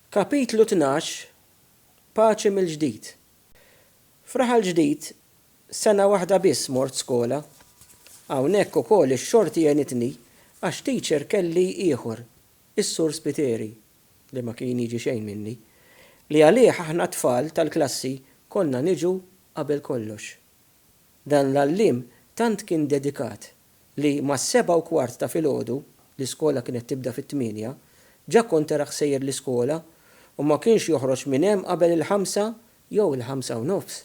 Kapitlu Tnax, Paċi mill-Ġdid F'Raħal Ġdid, sena waħda biss mort skola. Hawnhekk ukoll ix-xorti għenitni għax teacher kelli ieħor, is-Sur Spiteri, li ma kien jiġi xejn minni, li għalih aħna t-tfal tal-klassi konna niġu qabel kollox. Dan l-għalliem tant kien dedikat li mas-sebgħa u kwart ta' filgħodu, l-iskola kienet tibda fit-tmienja, ġa kont tarah sejjer l-iskola u ma kienx joħroġ minn hemm qabel il-ħamsa jew il-ħamsa u nofs.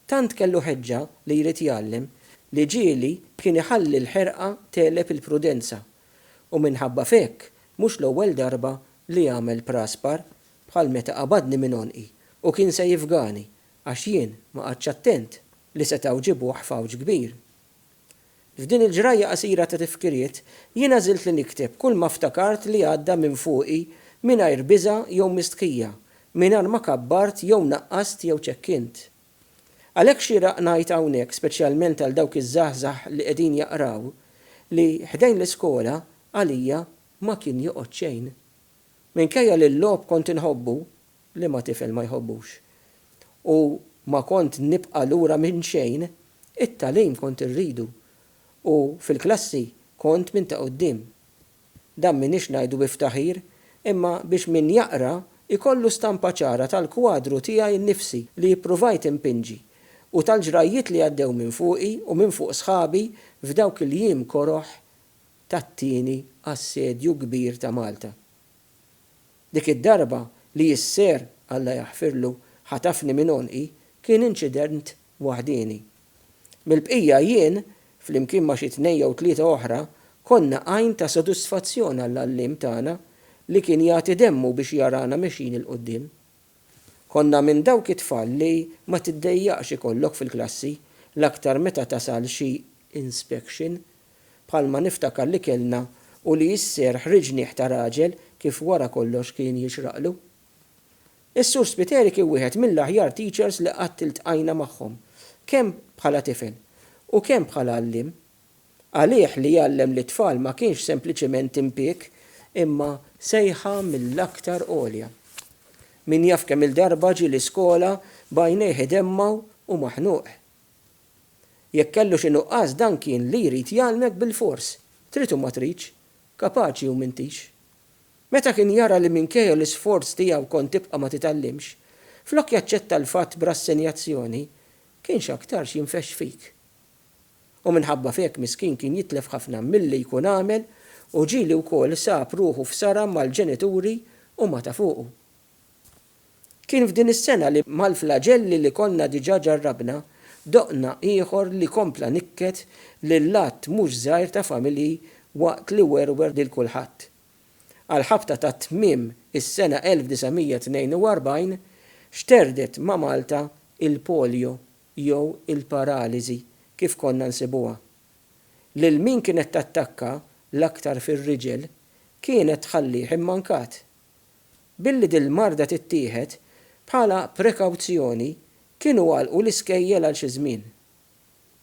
Tant kellu ħeġġa li jrid jgħallem li ġieli kien iħalli l-ħerqa tegħleb il-prudenza u minħabba f'hekk mhux l-ewwel darba li għamel praspar bħal meta qabadni minn għonqi u kien se jifgani Għax jien ma qgħadtx attent li setgħu ġibuh f'għawġ kbir. F'din il-ġrajja qasira ta' tifkiriet, jien għażilt li nikteb kull ma ftakart li għadda minn fuqi mingħajr biża' jew mistħija, mingħajr ma kabbart jew naqqast jew ċekkint. Għalhekk xieraq ngħid hawnhekk speċjalment għal dawk iż-żgħażagħ li qegħdin jaqraw li ħdejn l-iskola għalija ma kien joqgħod xejn. Minkejja li l-logħob kont inħobbu, Liema tifel ma jħobbux? U ma kont nibqa' lura minn xejn, it-tagħlim kont irridu u fil-klassi kont minn ta' quddiem. Dan m'iniex ngħidu bi ftaħir imma biex min jaqra jkollu stampa ċara tal-kwadru tiegħi nnifsi li ippruvajt inpinġi u tal-ġrajjiet li għaddew minn fuqi u minn fuq sħabi f'dawk il-jiem koroh tat-tieni assedju kbir ta' Malta. Dik id-darba li jisser, Alla jaħfirlu, ħatafni minn għonqi kien inċident waħdieni. Mill-bqija jien, flimkien ma' xi tnejn jew tlieta oħra, konna għajn ta' sodisfazzjon għall-għalliem tagħna li kien jagħti demmu biex jarana mexjin 'il quddiem. Konna minn dawk it-tfal li ma tiddejjaqx ikollok fil-klassi, l-aktar meta tasal xi inspection bħalma niftakar li kellna u li s-serħ riġniegħ ta' raġel kif wara kollox kien jixraqlu. Is-Sur Spiteri kien wieħed mill-aħjar teachers li qatt iltqajna magħhom, kemm bħala tifel u kemm bħala għalliem. Għalih li jgħallem lit-tfal ma kienx sempliċement impieg imma sejħa mill-aktar għolja. Min jaf kemm-il darba ġie l-iskola b'għajnejh idemmgħu u maħnuq. Jekk kellu xi nuqqas dan kien li jrid jgħallmek bilfors, trid u ma tridx, kapaċi u m'intix. Meta kien jara li minkejja l-isforz tiegħu kont tibqa' ma titgħallimx, flok jaċċetta l-fatt b'rassenjazzjoni, kien x'aktarx jinfexx fik. U minħabba f'hekk miskin kien jitlef ħafna milli jkun għamel u ġieli wkoll sab ruħu f'sara mal-ġenituri u ma ta' fuqu. Kien f'din is-sena li, mal-flaġelli li konna diġà ġarrabna, doqna ieħor li kompla nikket lil għadd mhux żgħir ta' familji waqt li werwer lil kulħadd. Għall-ħabta ta' tmiem is-sena 1942, xterdet ma' Malta il-polio jew il-paraliżi kif konna nsibuha. Lil min kienet tattakka, l-aktar fir-riġel, kienet tħallih immankat. Billi dil-marda tittieħed bħala prekawzjoni kienu għalqu l-iskejjel għal xi żmien.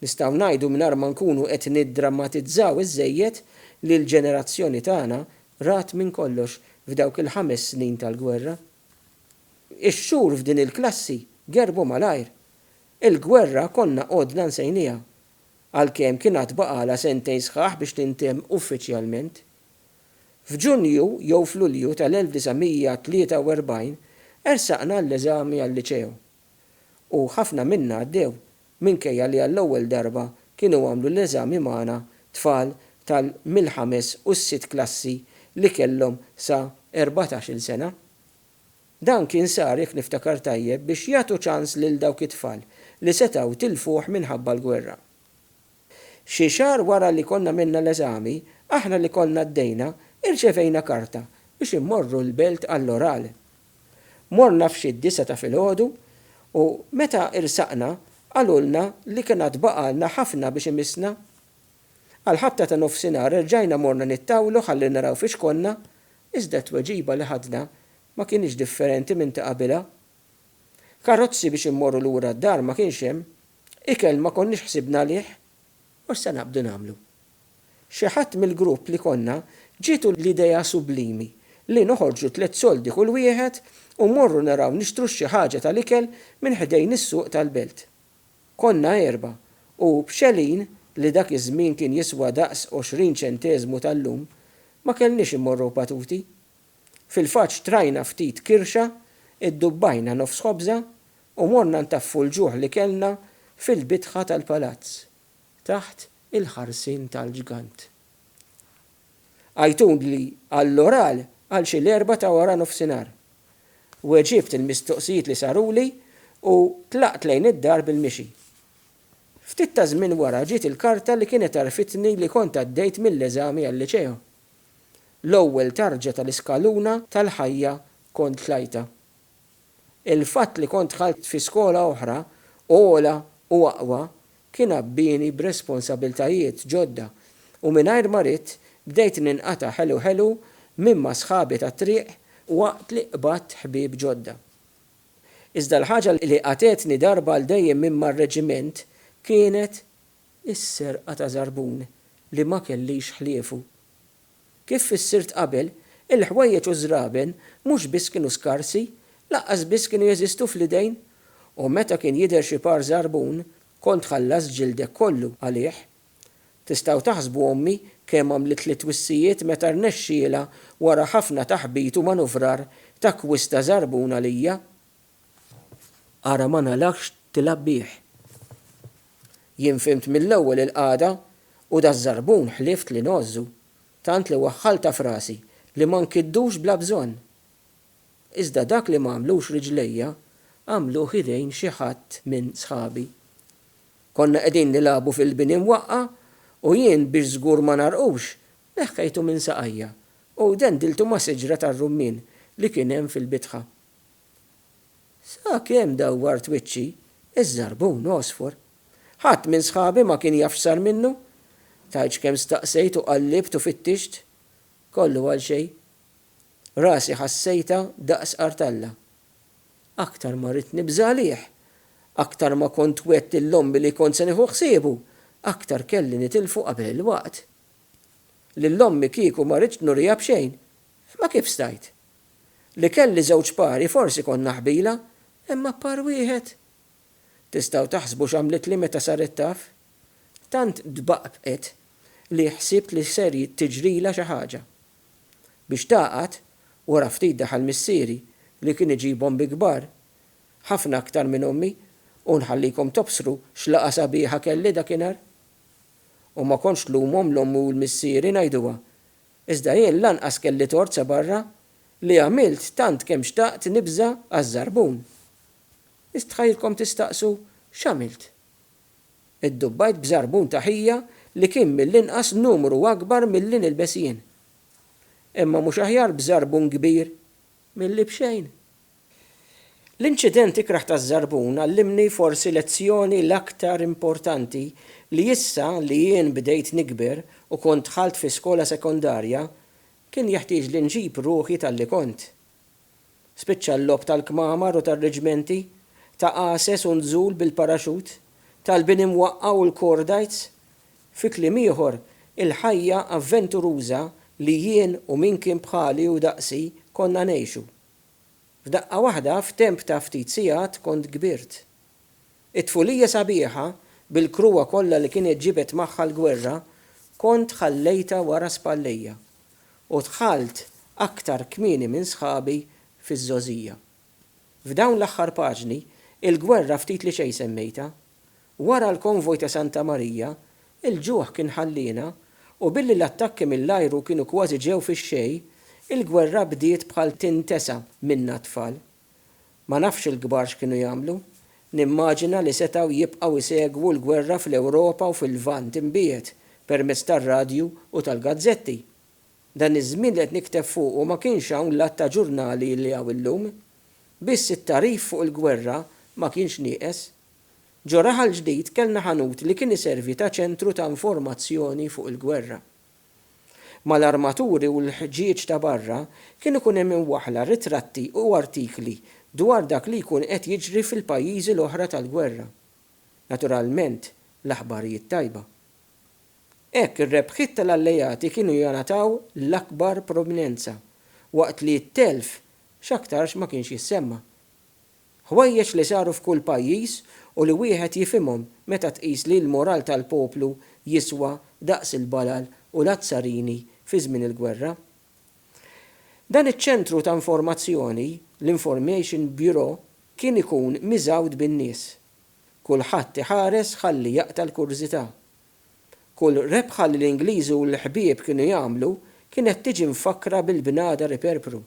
Nistgħu ngħidu mingħajr ma nkunu qed niddrammatizzaw iżżejjed li l-ġenerazzjoni tagħna rat minn kollox f'dawk il-ħames snin tal-gwerra. Ix-xhur f'din il-klassi gerbu malajr. Il-gwerra konna għodna nsejniha, għalkemm kien għad baqgħalha sentejn sħaħ biex tintemm uffiċjalment. F'Ġunju jew f'Lulju tal-1943 ersaqna għall-eżami għal-liċew u ħafna minna għaddew minkejja li għall-ewwel darba kienu għamlu l-eżami magħna tfal tal-mill-ħames u s-sitt klassi li kellhom sa erbatax-il sena. Dan kien sar, jekk niftakar tajjeb, biex jagħtu ċans lil dawk it-tfal li setgħu tilfuh minħabba l-gwerra. Xi xahar wara li konna għamilna l-eżami, aħna li konna għaddejna irċevejna karta biex immorru l-Belt għall-oral. Morna f'xi d-disgħa ta' filgħodu u meta irsaqna qalulna li kien għad baqgħalna ħafna biex imissna. Għall-ħabta ta' nofsinhar erġajna morna nittawlu ħalli naraw fiex konna iżda t-tweġiba li ħadna ma kinitx differenti minn ta' qabilha. Karozzi biex immorru lura d-dar ma kienx hemm. Ikel ma konniex ħsibna għalih u issa naqbdu nagħmlu. Xi ħadd mill-grupp li konna ġietu l-idea sublimi li noħorġu tliet soldi kull wieħed u mmorru naraw nixtru xi ħaġa tal-ikel minn ħdejn is-suq tal-belt. Konna erbgħa u b'xegħlin li dak iż-żmien kien jiswa daqs għoxrin ċenteżmu tal-lum, ma kellniex immorru batuti. Fil-fatt xtrajna ftit kirxa, iddubbajna nofs ħobża U morna ntaffu l-ġuħ li kellna fil-bitħa tal-palazz, taħt il-ħarsien tal-ġgant. Għajtuli għall-oral għal xi l-erbgħa ta' waranofsinhar. Weġibt il-mistoqsijiet li saruli u tlaqt lejn id-dar bil-mixi. Ftit ta' żmien wara ġiet il-karta li kienet għarrfitni li kont għaddejt mill-eżami għal-liċeo. L-ewwel tarġa tal-iskaluna tal-ħajja kont tlajtha. Il-fatt li kont dħalt fi skola oħra, ogħla u aqwa, kien għabbieni b'responsabiltajiet ġodda u mingħajr ma ridt bdejt ninqata' ħelu ħelu minn ma' sħabi tat-triq waqt li qbadt ħbieb ġodda. Iżda l-ħaġa li qatgħetni darba għal dejjem minn mar-reġiment kienet is-serqa ta' żarbun li ma kellix ħliefu. Kif fissirt qabel, il-ħwejjeġ u ż-żraben mhux biss kienu skarsi, lanqas biss kienu jeżistu fl-idejn. U meta kien jidher xi par żarbun, kont tħallas ġildek kollu għalih. Tistgħu taħsbu ommi kemm għamlitli twissijiet meta rnexxielha wara ħafna taħbit u manuvrar takkwista żarbun għalija? Ara ma ngħalaqx tilgħab bih. Jien fhimt mill-ewwel il-qagħda u daż-żarbun ħlieft li ngħożżu, tant li waħħaltha f'rasi li ma nkiddux bla bżonn. Iżda dak li m'għamlux riġlejja għamluh idejn xi ħadd minn sħabi. Konna qegħdin nilagħbu fil-bini mwaqqgħa u jien biex żgur ma ngħarqux, neħħejtu minn saqajja u dendiltu ma' siġra tar-rummien li kien hemm fil-bitħa. Sakemm dawwart wiċċi, iż-żarbun għosfur. Ħadd minn sħabi ma kien jaf x'sar minnu. Tgħidx kemm staqsejt u qallibt u fittixt. Kollu għal xejn. Rasi ħassejtha daqs qartalla. Aktar ma ridt nibża' għalih, aktar ma kont wgħedt lil ommi li kont se nieħu ħsiebu, aktar kelli nitilfu qabel il-waqt. Lil ommi kieku ma ridtx nuriha b'xejn, imma kif stajt? Li kelli żewġ pari forsi kont naħbila, imma par wieħed? Tistgħu taħsbu x'għamlitli meta saret taf? Tant tbaqbqet li ħsibt li ser tiġrilha xi ħaġa. Biex tagħqad, wara ftit daħal missieri li kien iġibhom bi kbar, ħafna aktar minn ommi, u nħallikom tobsru x'laqgħa sabiħa kelli dakinhar. U ma kontx tlumhom l-ommi u l-missieri ngħiduha. Iżda jien lanqas kelli tort sabarra li għamilt tant kemm xtaqt nibża' għaż-żarbun. Istħajjilkom tistaqsu x'għamilt? Iddubbajt b'żarbun ta' ħija li kien mill-inqas numru akbar milli nilbes jien. Imma mhux aħjar b'żarbun kbir milli b'xejn? L-inċident ikrah taż-Żarbun għallimni forsi lezzjoni l-aktar importanti li issa li jien bdejt nikber u kont dħalt fi skola sekondarja kien jeħtieġli nġib ruħi talli kont. Spiċċa l-logħob tal-kmamar u tar-riġmenti, ta' għases u nżul bil-paraxut, tal-bini mwaqqgħa u l-kordajts. Fi kliem ieħor, il-ħajja avventuruża li jien u min kien bħali u daqsi konna ngħixu. F'daqqa waħda, f'temp ta' ftit sigħat, kont kbirt. It-tfulija sabiħa, bil-krua kollha li kienet ġibet magħha l-gwerra, kont ħallejtha wara spallejja, u dħalt aktar kmieni minn sħabi fiż-żgħożija. F'dawn l-aħħar paġni, il-gwerra ftit li xejn semmejtha. Wara l-konvoj ta' Santa Marija, il-ġuħ kien ħalliena u billi l-attakki mill-ajru kienu kważi ġew fix-xejn, il-gwerra bdiet bħal tintesa minna t-tfal. Ma nafx il-kbar x'kienu jagħmlu. Nimmaġina li setgħu jibqgħu jsegwu l-gwerra fl-Ewropa u fil-Lvant imbiegħed permezz tar-radju u tal-gazzetti. Dan iż-żmien li qed nikteb fuqu ma kienx hawn l-għadd ta' ġurnali li hawn illum. Biss it-tagħrif fuq il-gwerra ma kienx nieqes. Ġo Raħal Ġdid kellna ħanut li kien iservi ta' ċentru ta' informazzjoni fuq il-gwerra. Mal-armaturi u l-ħġieġ ta' barra kien ikun hemm imwaħħla ritratti u artikli dwar dak li jkun qed jiġri fil-pajjiżi l-oħra tal-gwerra. Naturalment, l-aħbarijiet tajba. Hekk ir-rebħiet tal-Alleati kienu jingħataw l-akbar prominenza, waqt li t-telf x'aktarx ma kienx jissemma. Ħwejjeġ li saru f'kull pajjiż u li wieħed jifhimhom meta tqis li l-moral tal-poplu jiswa daqs il-balal u l-azzarini fi żmien il-gwerra. Dan iċ-ċentru ta' informazzjoni, l-Information Bureau, kien ikun miżgħud bin-nies. Kulħadd iħares ħalli jaqta' l-kurżità. Kull rebħa li l-Ingliżi u l-ħbieb kienu jagħmlu kienet tiġi mfakkra bil-bnadar iperpru.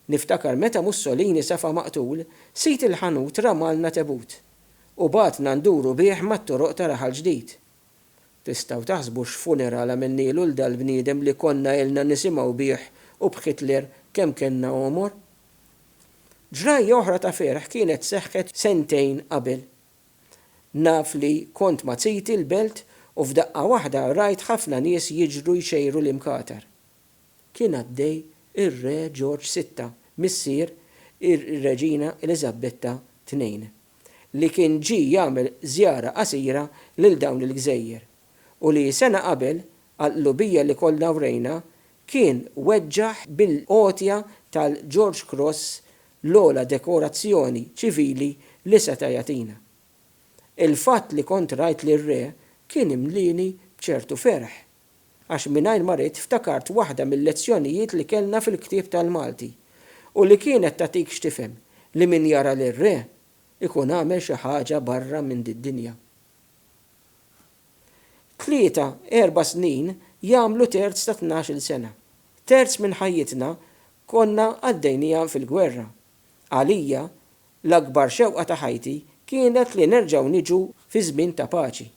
Niftakar meta Mussolini safa maqtul, sid il-ħanut ramalna tebut u bagħatna nduru bih mat-toroq ta' Raħal Ġdid. Tistgħu taħsbu x'funeral għamilnielu 'l dal-bniedem li konna ilna nisimgħu bih u b'Hitler kemm kellna għomor? Ġrajja oħra ta' ferħ kienet seħħet sentejn qabel. Naf li kont ma' ziti l-Belt u f'daqqa waħda rajt ħafna nies jiġru jxejru l-imkatar. kien għaddej ir-Re Ġorġ Sitta, missier ir-Reġina Eliżabbetta Tnejn, li kien ġie jagħmel żjara qasira lil dawn il-gżejjer u li sena qabel, għall-qlubija li kollna wrejna, kien weġġaħ bil-għotja tal-George Cross l-ogħla dekorazzjoni ċivili li seta' jagħtina. Il-fatt li kont rajt lir-Re kien imlieni b'ċertu ferħ. għax mingħajr ma ridt ftakart waħda mil-lezzjonijiet li kellna fil-ktieb tal-Malti u li kienet tagħtik x'tifhem li min jara lir-Re jkun għamel xi ħaġa barra minn did-dinja. Tlieta, erba' snin jagħmlu terz ta' tnax-il sena. Terz minn ħajjitna konna għaddejnieha fil-gwerra. Għalija, l-akbar xewqa ta' ħajti kienet li nerġgħu niġu fi żmien ta' paċi.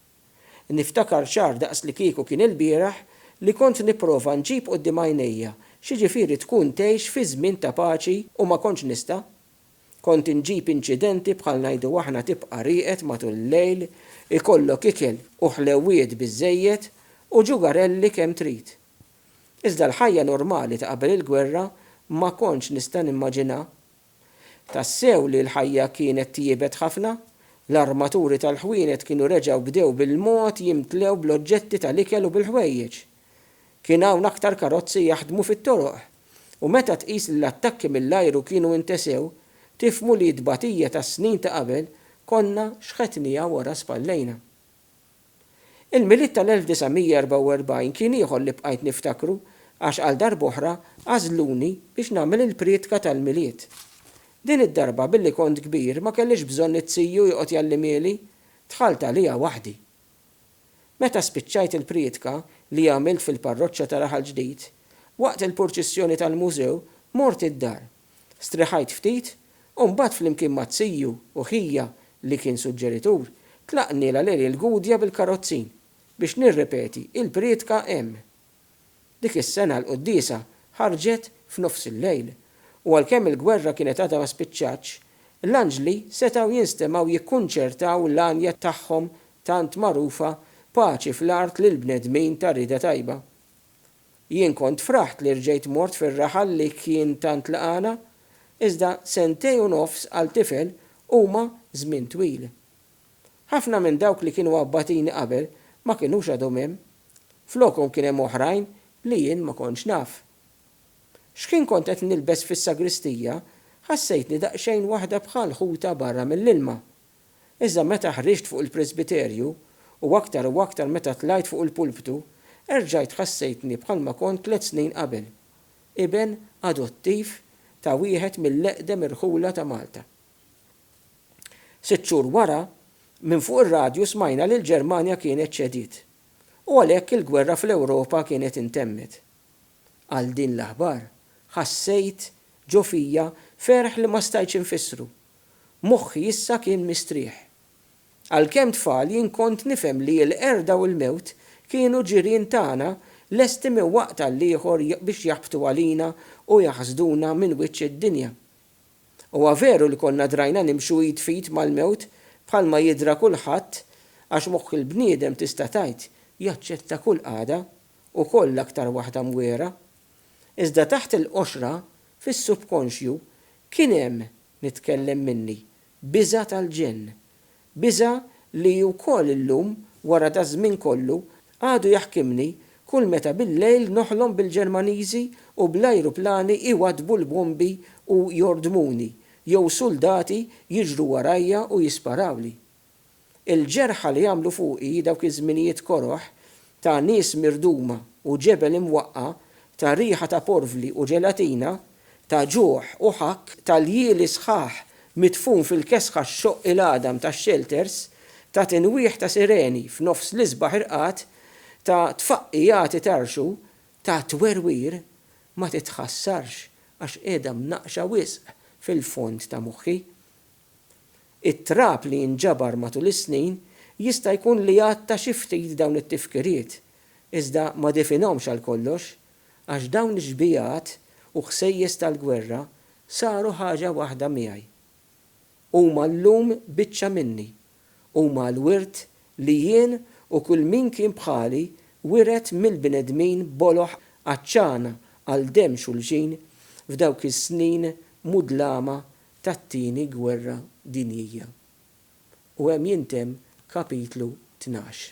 Niftakar ċar daqs li kieku kien ilbieraħ li kont nipprova nġib quddiem għajnejja x'jiġifieri tkun tgħix fi żmien ta' paċi u ma kontx nista'. Kont inġib inċidenti bħal ngħidu aħna tibqa' rieqed matul il-lejl, ikollok ikel u ħlewwiet biżżejjed u ġugarelli kemm trid. Iżda l-ħajja normali ta' qabel il-gwerra ma kontx nista' nimmaġinha Tassew li l-ħajja kienet tjiebet ħafna. L-armaturi tal-ħwienet kienu reġgħu bdew bil-mod jimtlew bl-oġġetti tal-ikel u bil-ħwejjeġ. Kien hawn aktar karozzi jaħdmu fit-toroq. U meta tqis li l-attakki mill-ajru kienu intesew, tifhmu li t-tbatija tas-snin ta' qabel konna xħetniha wara spallejna. Il-Milied tal-1944 kien ieħor li bqajt niftakru għax għal darb'oħra għażluni biex nagħmel il-prietka tal-Milied. Din id-darba billi kont kbir ma kellix bżonn it-CU joqgħod jgħallimieli, dħalt għaliha waħdi. Meta spiċċajt il-prietka li għamilt fil-parroċċa ta' Raħal Ġdid, waqt il-purċissjoni tal-Mużew mort id-dar. Strieħajt ftit u mbagħad flimkien ma' ziju u ħija li kien suġġeritur, tlaqtni la l-għerien l-Gudja bil-karozzin biex nirrepeti il-prietka hemm. Dik is-sena l-quddiesa ħarġet f'nofs il-lejl u għalkemm il-gwerra kienet għadha ma spiċċatx, l-anġli setgħu jinstemgħu jikkunċertaw l-għanja tagħhom tant magħrufa Paċi fl-art lill-bnedmin ta' rieda tajba. Jien kont fraħt li rġejt mort fir-raħal li kien tant lqagħna, iżda sentejn u nofs għal tifel huma żmien twil. Ħafna minn dawk li kienu abbatini qabel ma kinux għadhom hemm. Flokhom kien hemm oħrajn li jien ma kontx naf. X'ħin kont qed nilbes fis-sagristija, ħassejtni daqsxejn waħda bħal ħuta barra mill-ilma. Iżda meta ħriġt fuq il-presbiterju, u aktar u aktar meta tlajt fuq il-pulptu, erġajt ħassejtni bħalma kont tliet snin qabel, iben adottiv ta' wieħed mill-eqdem irħula ta' Malta. Sitt xhur wara, minn fuq ir-radju smajna li l-Ġermanja kienet ċediet, u għalhekk il-gwerra fl-Ewropa kienet intemmet. għal din l-aħbar, ħassejt ġo fija ferħ li ma stajtx infissru. Moħħi issa kien mistrieħ. Għalkemm tfal jien kont nifhem li l-qerda u l-mewt kienu ġirien tagħna lesti minn waqt għall-ieħor biex jaħbtu għalina u jaħsduna minn wiċċ id-dinja. Huwa veru li konna drajna nimxu id f'id mal-mewt bħalma jidhra kulħadd għax moħħ il-bniedem tista' tgħid jaċċetta kull qagħda, ukoll l-aktar waħda mwiegħra, iżda taħt il-qoxra, fis-subkonxju, kien hemm, nitkellem minni, biża' tal-ġenn. Biża' li wkoll illum, wara daż-żmien kollu, għadu jaħkimni kull meta bil-lejl noħlom bil-Ġermaniżi u bl-ajruplani jwaddbu l-bombi u jordmuni, jew suldati jiġru warajja u jisparawli. Il-ġerħa li għamlu fuqi dawk iż-żminijiet koroh ta' nies mirduma u ġebel imwaqqa', ta' riħa ta' porvli u ġelatina, ta' ġuħ u ħakk, ta' ljieli sħaħ midfun fil-kesħa xxoqq il-għadam tax-xelters, ta' tinwieħ ta' sireni f'nofs l-isbaħ irqad, ta' tfaqqiegħat itarrxu, ta' twerwir, ma titħassarx għax qiegħda mnaqqxa wisq fil-fond ta' moħħi. It-trab li jinġabar matul is-snin jista' jkun li għatta xi ftit dawn it-tifkiriet, iżda ma definhomx għal kollox, għax dawn ix-xbigħat u ħsejjes tal-gwerra saru ħaġa waħda miegħi. Huma llum biċċa minni. Huma l-wirt li jien u kull min kien bħali wiret mill-bnedmin boloh għatxana għal demm xulxin f'dawk is-snin mudlama tat-Tieni Gwerra Dinjija, u hemm jintemm Kapitlu Tnax.